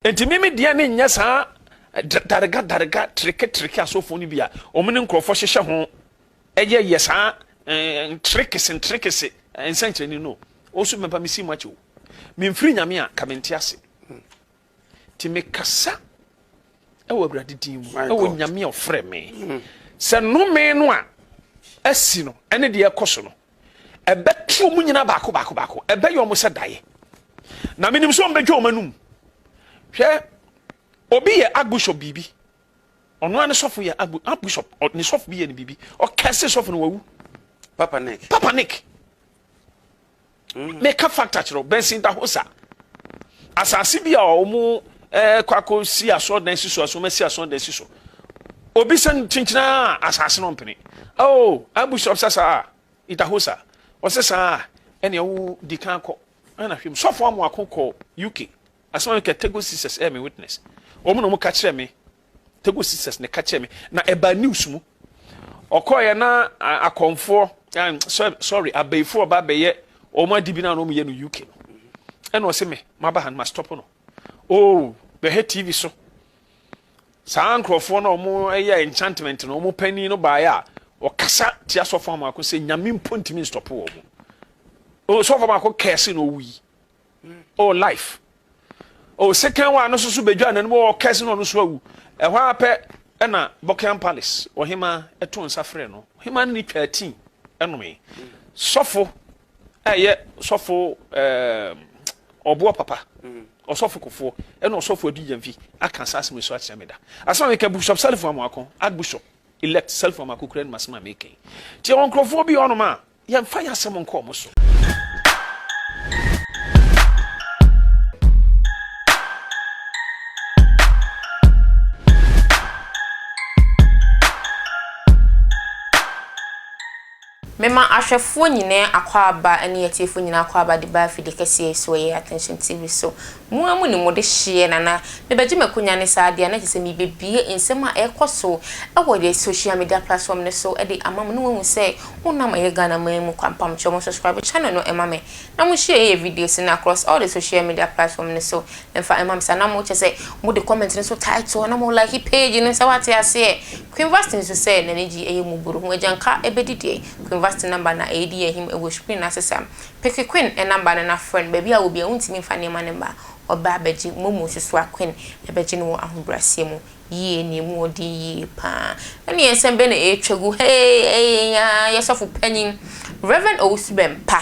Enti me me deɛ ne nyɛ saa darega darega treke treke asɔfoɔ no bi a wɔn ne nkurɔfoɔ hyehyɛ ho yɛ yɛ saa ntrekese ntrekese nsɛnkyerɛnne no o so mɛba me si mu akyɛ o memfiri nyame a ka mente ase ti mekasa ɛwɔ awurade din mu ɛwɔ nyame a ɔfrɛ me sɛ nnome no a asi no ɛne deɛ ɛkɔ so no Ɛbɛte wɔn nyinaa baako baako baako, ɛbɛyɛ wɔn sɛ daeɛ. Na menim sɛ wɔbɛdwa wɔn anum. Hwɛ, obi yɛ archbishop biribi, ɔno ara ne sɔfo yɛ archbishop, ne sɔfo bi yɛ ne biribi, ɔkɛse sɔfo no wawu. Papa Nick. Papa Nick. Mm. Meka factor kyerɛ Benson da hɔ sa. Asase bi a wɔn ɛɛ eh, kɔ akɔ si asɔrɔdan si so, asɔrɔmɛ si asɔrɔdan si so. Obi san kyinkyina asase no mpene. Oh, Ambush ɔsɛ saa, Idahosa ɔsɛ saa, ɛne ɛwo di kan kɔ. Ɛna hwɛ mu, sɔfo amu ako kɔ UK. Asɛm a meka Tego Sisters ɛyɛ me witness. Wɔn na wɔn ka kyerɛ me. Tego Sisters na ɛka kyerɛ me. Na ɛba news mu. Ɔkɔɛ na akɔmfoɔ, sorry, abɛifoɔ ba bɛyɛ wɔn adi bi na wɔn yɛ no UK no. Ɛna ɔsɛ me, maba ha no, ma stop no. Oh bɛhɛ TV so saa nkorɔfoɔ no a ɔmo yɛ enchantment no ɔmo panin no baeɛ a ɔkasa tia sɔfo amako sɛ nyame mpo ntumi nstɔpo wɔ mo oh sɔfo amako kɛse na ɔwu yi oh life oh second one no so so bɛdwa n'anim oh kɛse na ɔno so awu ɛhɔ ara pɛ ɛna Buckingham Palace ɔhema ɛto nsa frɛ no ɔhema no ne twaa tii ɛnome sɔfo ɛyɛ sɔfo ɔboɔ papa ɔsɔfo kofoɔ ɛna ɔsɔfo adi yɛnfi aka saa asɛm so akyerɛ me da asɛm a meka bishop salifo amoako archbishop elect salifo amoako kura no masɛm a meka yi nti ɛwɔ nkurɔfoɔ bi hɔnom a yɛmfa yɛ asɛm nkɔ ɔmo so Mema ahwɛfoɔ nyinaa akwaaba ne atiefoɔ nyinaa akwaaba de ba afidie kɛseɛ yi so, ɛyɛ Attention TV so. Mo ara mo nim mo dehyeɛ na na mebɛgye m'akonya ne saa adeɛ a na kyerɛ sɛ merebɛbue nsɛm a ɛrekɔ so wɔ yɛn social media platform no so de ama mo na wɔahu sɛ wonam ɛyɛ Ghanaman mu kwa. Mpamkyɛw mo subscribe channel no ma me Na mo hyɛ yɛ videos no across all the social media platform no so mfa mma me saa na mo kyɛ sɛ mo de comment no so title na mo like page no sɛ wate aseɛ Queen Vastine nso sɛ nani gye ɛyɛ mu buru ho agyanka ɛbɛdi deɛ Queen Vastine number na ɛɛdi ahim ɛwɔ screen no ase saa Pick Queen number no na frɛ no baabi a wɔ biara wontumi mfa nneɛma no mma ɔbaa bɛgye momo nso so a Queen ɛbɛgye no wɔ ahobraseɛ mu Yie nie mu ɔden yie paa. Ɛnneɛ nsɛm bɛn na ɛretwa gu ha yi ɛyɛ yi ara yi sɔfo panin Rev. Owusu Bɛmpa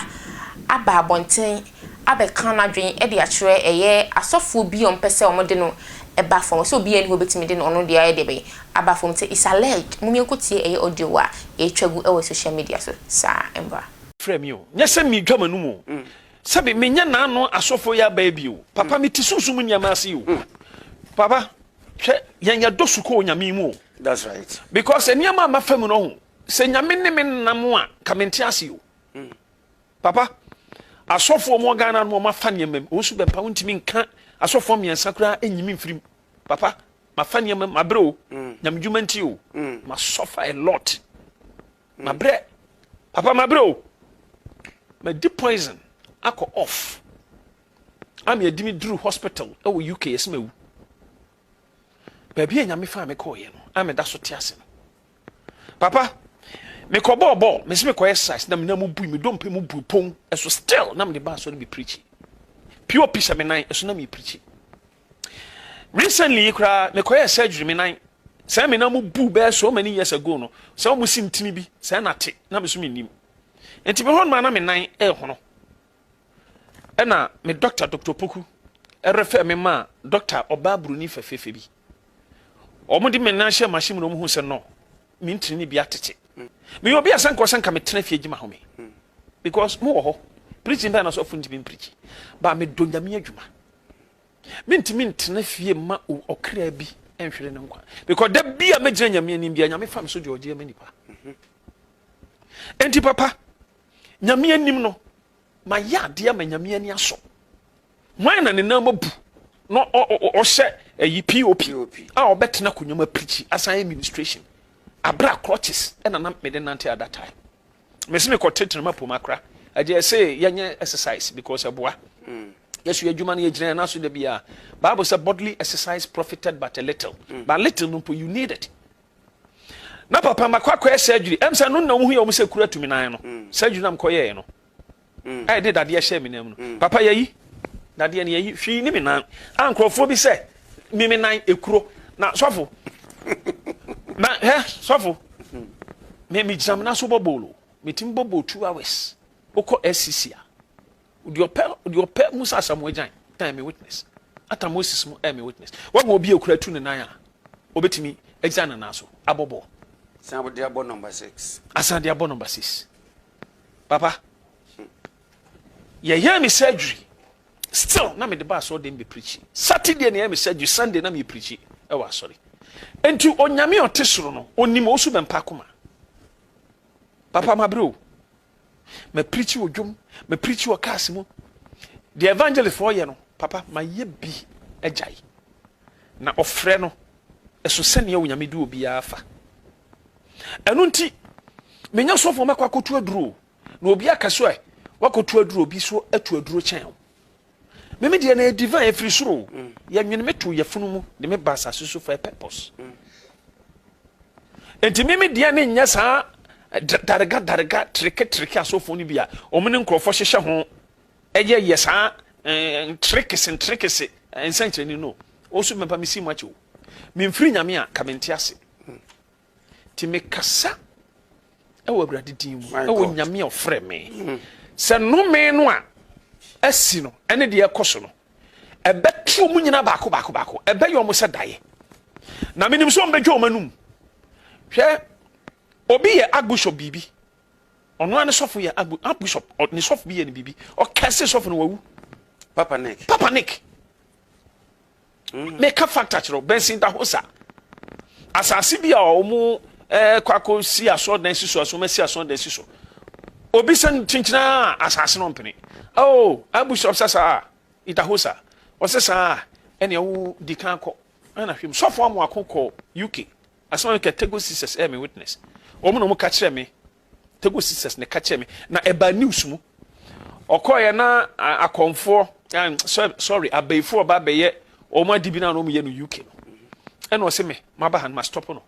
aba abɔnten abɛka n'adwene de akyerɛ ɛyɛ asɔfoɔ bi a wɔpɛ sɛ wɔde no ba fam ɔsɛ obiara nni hɔ bɛtumi de ɔno deɛ ayɛ deɛ bɛn aba fam nti it's alleged mom yɛnkɔ tie ɛyɛ audio a ɛretwa gu wɔ social media so saa mmra. Frɛ me o, nyɛ sɛ meretwa m'anom o, Sɛbe menya n'ano asɔfo ya bɛɛ bio. Papa me ti sunsum nneɛma ase yi o. Hmm. Papa hwɛ yɛn yɛ dɔ sukuu nyame mu o. That's right. Because nneɛma a mafa mu no ho sɛ nyame ne me nam a ka me nte ase o. Hmm. Papa asɔfo ɔmo Ghana no ɔmo afa nneɛma mu ɔnso bɛmpa wo ntumi nka asɔfo mmiɛnsa koraa enyimi mfirim. Papa mafa nneɛma mu mabrɛ o. Hmm. Nyame dwuma nti o. Masɔfa a lot. Mabrɛ papa mabrɛ o. Madi poison akɔ off. Am yɛ di me duru hospital ɛwɔ UK yɛsɛ mawu. Baabi a nyame faa me kɔɔ yɛ no a meda so te ase no. Papa mekɔ bɔɔ bɔɔ mesi mekɔ exercise na mena mu bui me dompe mu bui pon ɛso still na mede baa sɔre me preachi. POP sɛ me nan ɛso na me preachi. Recently yi koraa mekɔyɛ surgery me nan Sɛɛ me na mo buu bɛyɛ so many years ago no sɛ ɔmo si ntini bi sɛɛ na te na me so me nim nti me hɔ no maa na me nan ɛɛhono ɛna me doctor doctor opoku ɛrefɛ me maa doctor ɔbaa broni fɛfɛɛfɛ bi ɔmo de me nan hyɛ machine mu na ɔmo hu sɛ no me ntini ne bi atete me yɛ obi a sɛ nka ɔsɛ nka me tena fie gyima home because mo wɔ hɔ preaching bɛyɛ na so afo ntumi mpreachi ba me do nyame adwuma Mentumi ntena fie mma ɔkra bi nhwere ne nkwa because da bi a mɛgyina nyame anim bia nyame fa me so deɛ ɔgye ama nipa enti papa nyame anim no mayɛ adeɛ ama nyame ani asɔ hwan na ne nan mabu na ɔhyɛ ayi pop a ɔbɛtena akonnwa mu apirikyi asan administration abra crutches ɛna na mede nante at that time Mesi me kɔ tetena ma poma kora. Ɛgye ɛse yɛ nyɛ exercise because ɛboa. Yesu yɛ adwuma no yɛ gyina yɛ naso da biya. Bible sɛ bodily exercise profited but a little. But little no mpo you need it. Na papa makɔ akɔyɛ surgery. Ɛm sɛ ɛno na ɔmo hu yɛ ɔmo sɛ kuru atumi nan no. Surgery na mekɔ yɛɛ no. Ɛɛ de dadeɛ hyɛɛ me nan mu no, papa yɛyi dadeɛ no yɛyi hwii ne me nan a nkurɔfoɔ bi sɛ me me nan ekuro na sɔfo na hɛ sɔfo me me gyina me nan so bɔ boolo me ti bɔ boolo two hours okɔ SCC a odi ɔpɛ odi ɔpɛ mu sɛ asamu agyan ɛɛ me witness ata Moses mu ɛɛ me witness wɔn mu obi ekura tu ne nan a obetumi agyan ne nan so abɔ bɔɔl. Asan de abɔ number six. Asan de abɔ number six. Papa, yɛyɛɛ me surgery still na mede ba asɔre dɛm bɛ preachi. Saturday na yɛyɛ me surgery, Sunday na meyɛ preachi ɛwɔ asɔre. Enti onyame a ɔte soro no, onim osu bɛmpa akoma. Papa mabrɛ o. Ma preachi wɔ dwom, ma preachi wɔ cars mu. Deɛ evangelist foɔ yɛ no, papa mayɛ bi agyae. Na ɔfrɛ no, ɛso sɛnea onyame de obiara fa. ɛno nti menyɛ sɔfoɔ mɛkɔ akɔtu aduro na obi aka so ɛ wakɔtu aduro obi so atu aduro kyɛn o meme deɛ na yɛ divine ɛfiri soro o mm. yɛnwene me to yɛfunu mu de me ba asase so for a purpose mm. nti meme deɛ ne nyɛ saa eh, darega darega treke treke asɔfoɔ no bi a ɔmo ne nkurɔfoɔ hyehyɛ ho Ɛyɛ yɛ saa ntrekese ntrekese nsɛnkyerɛnne no o nso mɛmpa me si mu akyɛ o memfiri nyame a ka mente ase ti mekasa ɛwɔ awurade din mu ɛwɔ nyame a ɔfrɛ me hmm. sɛ nome no a asi no ɛne deɛ ɛkɔ so no ɛbɛto mu nyina baako baako baako ɛbɛyɛ ɔmo sɛ daeɛ na menim sɛ ɔmbɛdwa ɔma num hwɛ obi yɛ agbosɔ biribi Ɔno ara ne sɔfo yɛ abu abu sɔp ne sɔfo bi yɛ ne biribi ɔkɛse sɔfo no wawu. Papa Nick. Papa Nick. Mm. Meka fakta kyerɛw Benson Dahosa asase bi a ɔmo ɛɛ eh, kɔ akɔ si asɔɔdan si so asɔɔma si asɔɔdan si so obi sɛ kyenkyena asase no mpene oh abu sɔp sɛ saa Dahosa ɔsɛ saa ɛnea wo di kan kɔ ɛna hwɛ mu sɔfo amoako kɔ UK Asɛm a meka, Tegos Sisters yɛ me witness. Wɔn na wɔka kyerɛɛ me. Tegos Sisters na ɛka kyerɛɛ me. Na ɛbaa news mu. Ɔkɔeɛ na akɔmfoɔ, sorry, abayifoɔ ɔba abɛyɛ wɔn ade bi na wɔn yɛ no UK no. Ɛna ɔse me, maba ha no, ma stop no.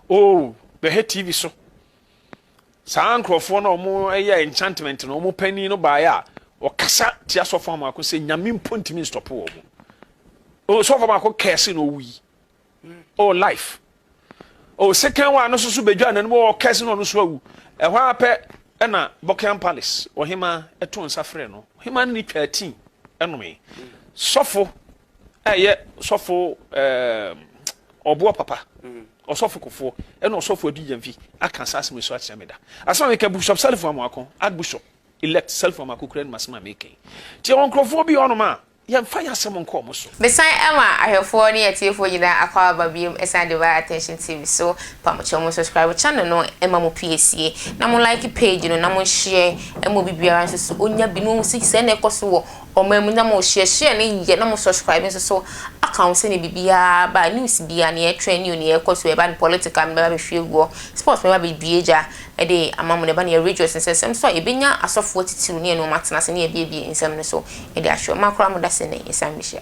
Oh, bɛhwɛ TV so. Saa nkurɔfoɔ na wɔn yɛ enchantment no, wɔn panin no baeɛ a, ɔkasa tia sɔfo amako sɛ nyame mpo ntumi nstɔpo wɔn. Sɔfo amako kɛse na ɔwui. oh life oh sekan wa no soso bedwa na no wɔ kɛse na ɔno so awu ɛhɔ ara pɛ ɛna Buckingham Palace ɔhema ɛto nsa frɛ no ɔhema no ne twa ati ɛnome sɔfo ɛyɛ sɔfo ɛɛ ɔboɔ papa ɔsɔfo kofoɔ ɛna ɔsɔfo adi yɛn fi aka saa asɛm so akyerɛ me da asɛm a meka bishop self amako archbishop elect self amako kura no masɛm a meka yi nti ɛwɔ nkurɔfoɔ bi ɔnom a Yɛmfa yɛn asɛm nkɔ wɔn so. Mesan ma ahwɛfoɔ ne atiefoɔ nyinaa akwaaba biom ɛsiane Divine Attention TV so, mpamokyɛw mo subscribe channel no ma mo pie sie, na mo like page no na mo nhyɛ ɛma obi biara nso so ɔnya bi na wahu sɛ sɛɛ na ɛkɔ so wɔ ɔman mu na mo share share no yie na mo subscribe nso so aka ho sɛdeɛ biribiara ba news biara nea ɛtrend new nea ɛkɔ so urban political mɛba bɛhwie guɔ sports mɛba bɛbue gya Ɛde amammerɛ ba ne yɛ rejoice nsɛsɛm so a yɛbɛnya asɔfoɔ atitiriw ne anuom atena ase ne yɛabiebie nsɛm no so de ahwɛ ɔma koraa mo da sɛ nnɛ yɛsan bɛhyia.